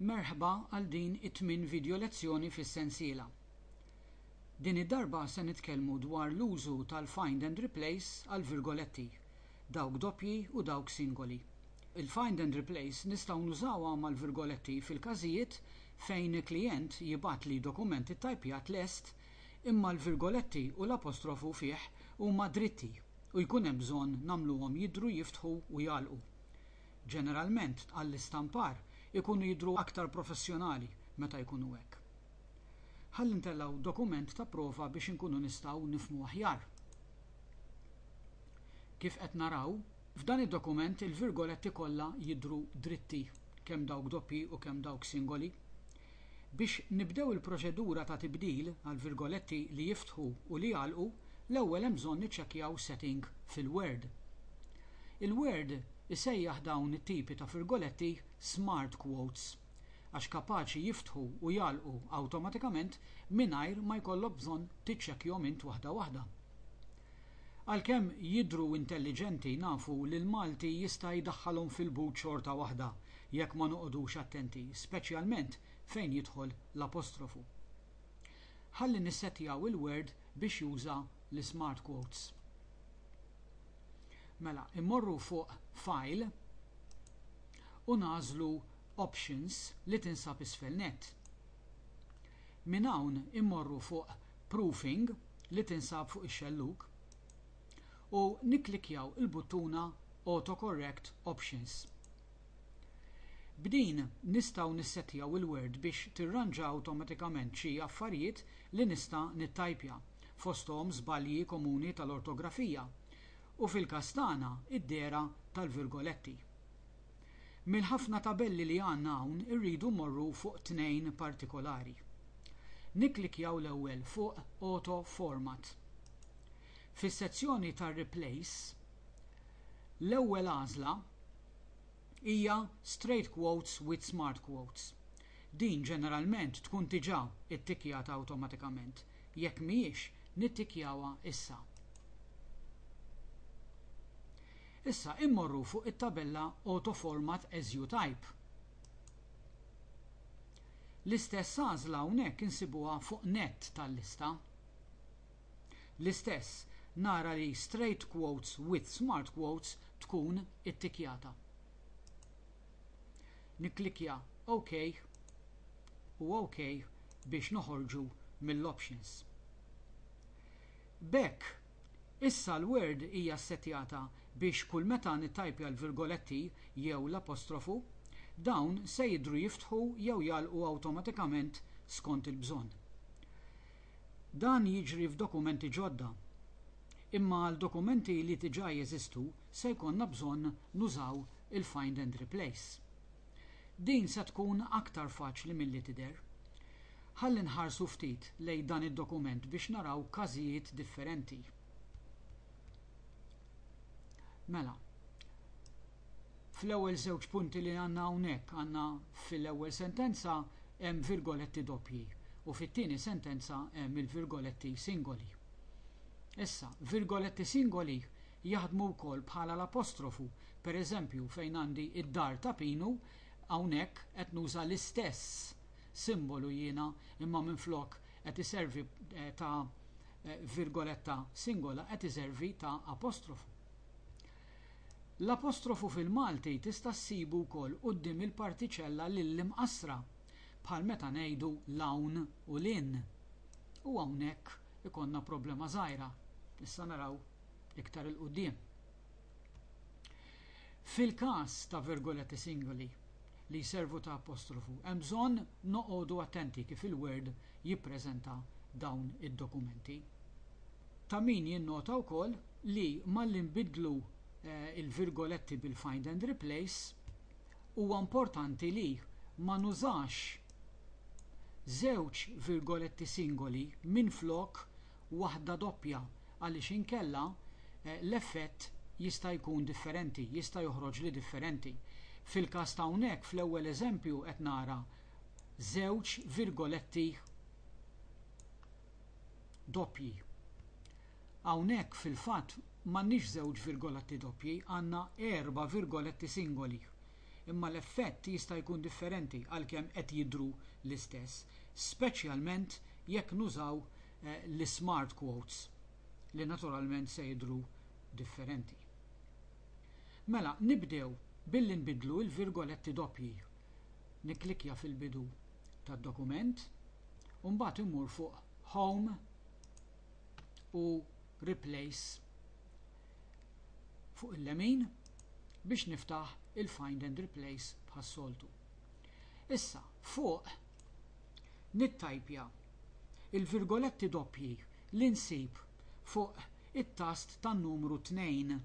Merħba għal din it-tmien vidjo lezzjoni fis-sensiela. Din id-darba se nitkellmu dwar l-użu tal-find and replace għall-virgoletti, dawk doppji u dawk singoli. Il-find and replace nistgħu nużawha mal-virgoletti fil-każijiet fejn klijent jibgħatli dokument ittajpjat lest imma l-virgoletti u l-apostrofu fih huma dritti. u jkun hemm bżonn nagħmluhom jidhru jiftħu u jagħlqu. Ġeneralment għall-istampar ikunu jidhru aktar professjonali meta jkunu hekk. Ħalli ntellgħu dokument ta' prova biex inkunu nistgħu nifhmu aħjar. Kif qed naraw, f'dan id-dokument il-virgoletti kollha jidhru dritti, kemm dawk doppji u kemm dawk singoli. Biex nibdew il-proċedura ta' tibdil għall-virgoletti li jiftħu u li jagħlqu, l-ewwel hemm bżonn niċċekkjaw setting fil-Word. Il-Word isejjaħ dawn it-tipi ta' virgoletti smart quotes għax kapaċi jiftħu u jagħlqu awtomatikament mingħajr ma jkollok bżonn tiċċekkjhom int waħda waħda. Għalkemm jidhru intelliġenti nafu li l-Malti jista' jdaħħalhom fil-but xorta waħda jekk ma noqogħdux attenti, speċjalment fejn jidħol l-apostrofu. Ħalli nissettjaw il-Word biex juża l-Smart Quotes. Mela, immorru fuq File u nagħżlu Options li tinsab isfel nett. Minn hawn immorru fuq proofing li tinsab fuq ix-xellug u nikklikkjaw il-buttuna Autocorrect Options. B'din nistgħu nissettjaw il-Word biex tirranġa awtomatikament xi affarijiet li nista' nittajpja, fosthom żbalji komuni tal-ortografija u fil-każ tagħna d-dehra tal-virgoletti. Mill-ħafna tabelli li għandna hawn irridu mmorru fuq tnejn partikolari. Nikklikkjaw l-ewwel fuq Auto Format. Fis-sezzjoni ta' Replace, l-ewwel għażla hija Straight Quotes with Smart Quotes. Din ġeneralment tkun diġà ttikkjata awtomatikament, jekk mhijiex nittikkjawha issa. Issa immorru fuq it-tabella Auto Format as you type. L-istess għażla hawnhekk insibuha fuq nett tal-lista. L-istess, nara li Straight Quotes with Smart Quotes tkun ittikkjata. Nikklikkja OK u OK biex noħorġu mill-options. B'hekk Issa l-Word hija ssettjata biex kull meta nittajpja l-virgoletti jew l-apostrofu, dawn se jidhru jiftħu jew jagħlqu awtomatikament skont il-bżonn. Dan jiġri f'dokumenti ġodda, imma għal dokumenti li diġà jeżistu se jkollna bżonn nużaw il-Find and Replace. Din se tkun aktar faċli milli tidher. Ħalli nħarsu ftit lejn dan id-dokument biex naraw każijiet differenti. Mela, fl-ewwel żewġ punti li għandna hawnhekk għandna fil-ewwel sentenza hemm virgoletti doppji u fit-tieni sentenza hemm il-virgoletti singoli. Issa, virgoletti singoli Jaħdmu wkoll bħala l-apostrofu, per eżempju fejn għandi id-dar ta' Pinu, hawnhekk qed nuża l-istess simbolu jiena imma minflok qed iservi ta' virgoletta singola qed iservi ta' apostrofu. L-apostrofu fil-Malti tista' ssibu wkoll quddiem il-partiċella lill-imqassra, bħal meta ngħidu l-hawn u l-in. U hawnhekk ikollna problema żgħira. Issa naraw. iktar 'il quddiem. Fil-każ ta' virgoletti singoli li jservu ta' apostrofu, hemm bżonn noqogħdu attenti kif il-Word jippreżenta dawn id-dokumenti. Ta' min jinnota wkoll li malli nbiddlu l-virgoletti bil-find and replace, huwa importanti li ma nużax żewġ virgoletti singoli minflok waħda doppja għaliex inkella l-effett jista' jkun differenti, jista' joħroġli differenti. Fil-każ ta' hawnhekk fl-ewwel eżempju qed nara żewġ virgoletti doppji. Hawnhekk fil-fatt m'għandniex żewġ virgoletti doppji, għandna erba' virgoletti singoli. imma l-effett jista' jkun differenti għalkemm qed jidhru l-istess, speċjalment jekk nużaw l-ismart quotes li naturalment se jidhru differenti. Mela, nibdew billi nbiddlu l-virgoletti doppji. Nikklikkja fil-bidu tad-dokument u mbagħad immur fuq Home u Replace fuq il-lemin biex niftaħ il-find and replace bħas-soltu. Issa, fuq nittajpja il-virgoletti doppji li nsib fuq it-tast tan-numru 2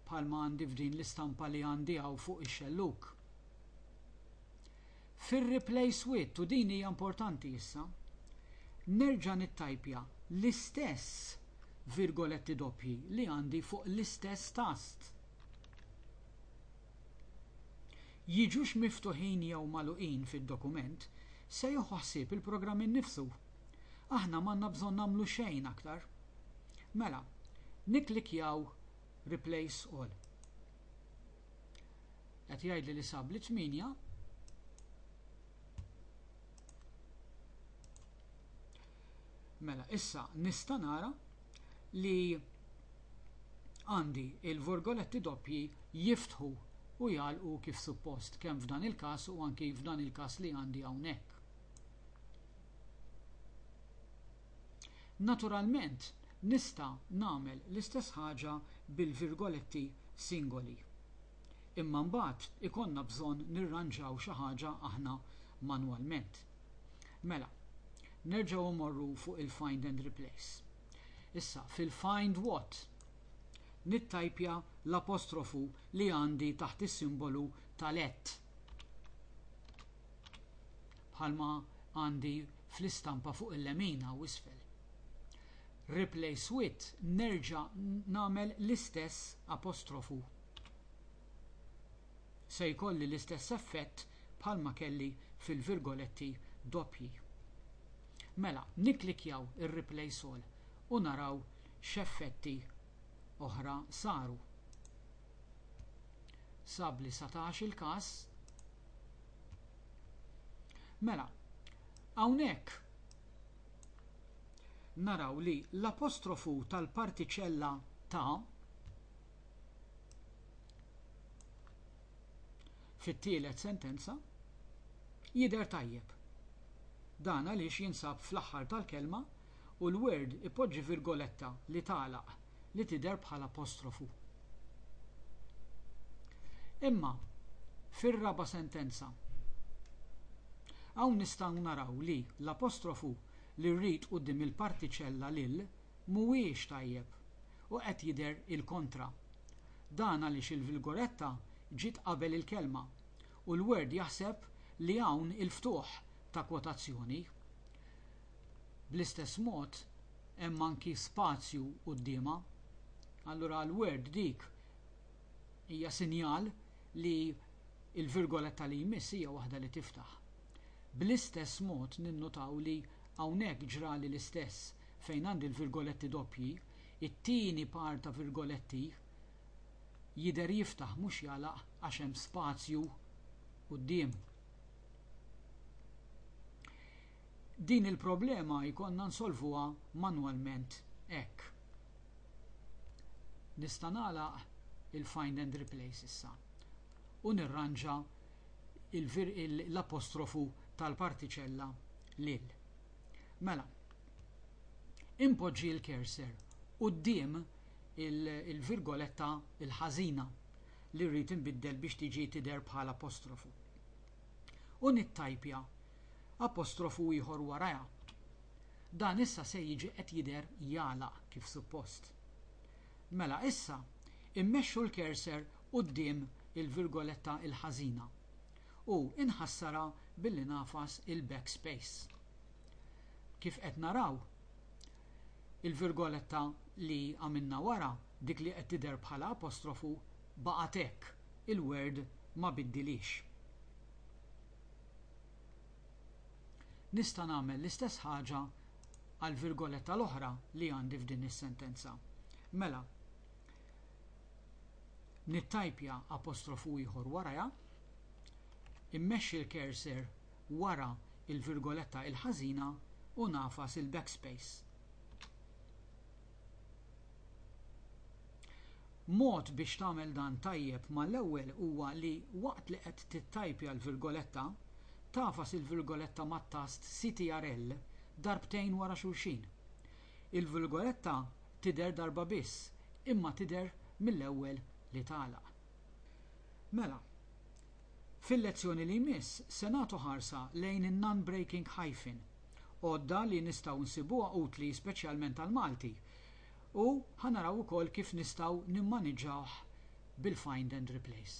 bħalma għandi f'din l-istampa li għandi hawn fuq ix-xellug. Fir-replace with, u din hija importanti issa, nerġa' nittajpja l-istess virgoletti doppji li għandi fuq l-istess tast. Jiġux miftuħin jew magħluqin fid-dokument se jieħu ħsieb il-programm innifsu. Aħna m'għandna bżonn nagħmlu xejn aktar. Mela, nikklikkjaw Replace All. Qed jgħidli li sab li 8 Mela, issa nista' nara li għandi il-vorgoletti doppji jiftħu u jgħalqu kif suppost, kemm f'dan il-każ u anki f'dan il-każ li għandi hawnhekk. Naturalment, nista' nagħmel l-istess ħaġa bil-virgoletti singoli. Imma mbagħad ikollna bżonn nirranġaw xi ħaġa aħna manwalment. Mela, nerġgħu mmorru fuq il-Find and Replace. Issa, fil-Find What? nittajpja l-apostrofu li għandi taħt is-simbolu tal-at. bħalma għandi fl-istampa fuq il-lemin hawn isfel. Replace with nerġa' nagħmel l-istess apostrofu. Se jkolli l-istess effett bħalma kelli fil-virgoletti doppji. Mela, nikklikjaw ir-replace all u naraw x'effetti oħra saru. Sab li satax il-każ Mela, hawnhekk naraw li l-apostrofu tal-partiċella ta' fit-tielet sentenza jidher tajjeb. Dan għaliex jinsab fl-aħħar tal-kelma u l-word ipoġġi virgoletta li tagħlaq li tidher bħala apostrofu. Imma, fir-raba' sentenza, hawn nistgħu naraw li l-apostrofu li rrid quddiem il-partiċella lil mhuwiex tajjeb u qed jidher il-kontra. Dan għaliex il-vilgoretta ġiet qabel il-kelma u l-word jaħseb li hawn il-ftuħ ta' kwotazzjoni. bl-istess mod hemm anki spazju quddiemha. Allura għall-Word dik hija sinjal li l-virgoletta li jmiss hija waħda li tiftaħ. Bl-istess mod ninnutaw li hawnhekk ġrali l-istess fejn għandi l-virgoletti doppji, it-tieni par ta' virgoletti jidher jiftaħ mhux jagħlaq għax hemm spazju quddiem. Din il-problema jkollna nsolvuha manwalment hekk. Nista' nagħlaq il-find and replace issa u nirranġa l-apostrofu tal-partiċella lil. Mela, inpoġġi l-cursor quddiem il-virgoletta l-ħażina li rrid inbiddel biex tiġi tidher bħala apostrofu. u nittajpja apostrofu ieħor warajha. Dan issa se jiġi qed jidher jagħlaq kif suppost. Mela issa immexxu l-cursor quddiem il-virgoletta il-ħażina u inħassarha billi ngħafas il-backspace. Kif qed naraw, il-virgoletta li għamilna wara dik li qed tidher bħala apostrofu baqgħet hekk, il-Word ma biddilhiex. Nista' nagħmel l-istess ħaġa għall-virgoletta l-oħra li għandi f'din is-sentenza. Mela, nittajpja apostrofu ieħor warajha, immexxi l-cursor wara l-virgoletta l-ħażina u ngħafas il-backspace. Mod biex tagħmel dan tajjeb mal-ewwel huwa li waqt li qed tittajpja l-virgoletta, tagħfas il-virgoletta mat-tast CTRL darbtejn wara xulxin. Il-virgoletta tidher darba biss imma tidher mill-ewwel li tagħlaq. Mela, fil-lezzjoni li jmiss se nagħtu ħarsa lejn in-non-breaking hyphen. Għodda li nistgħu nsibuha utli speċjalment għall-Malti u ħa naraw ukoll kif nistgħu nimmaniġġawh bil-find and replace.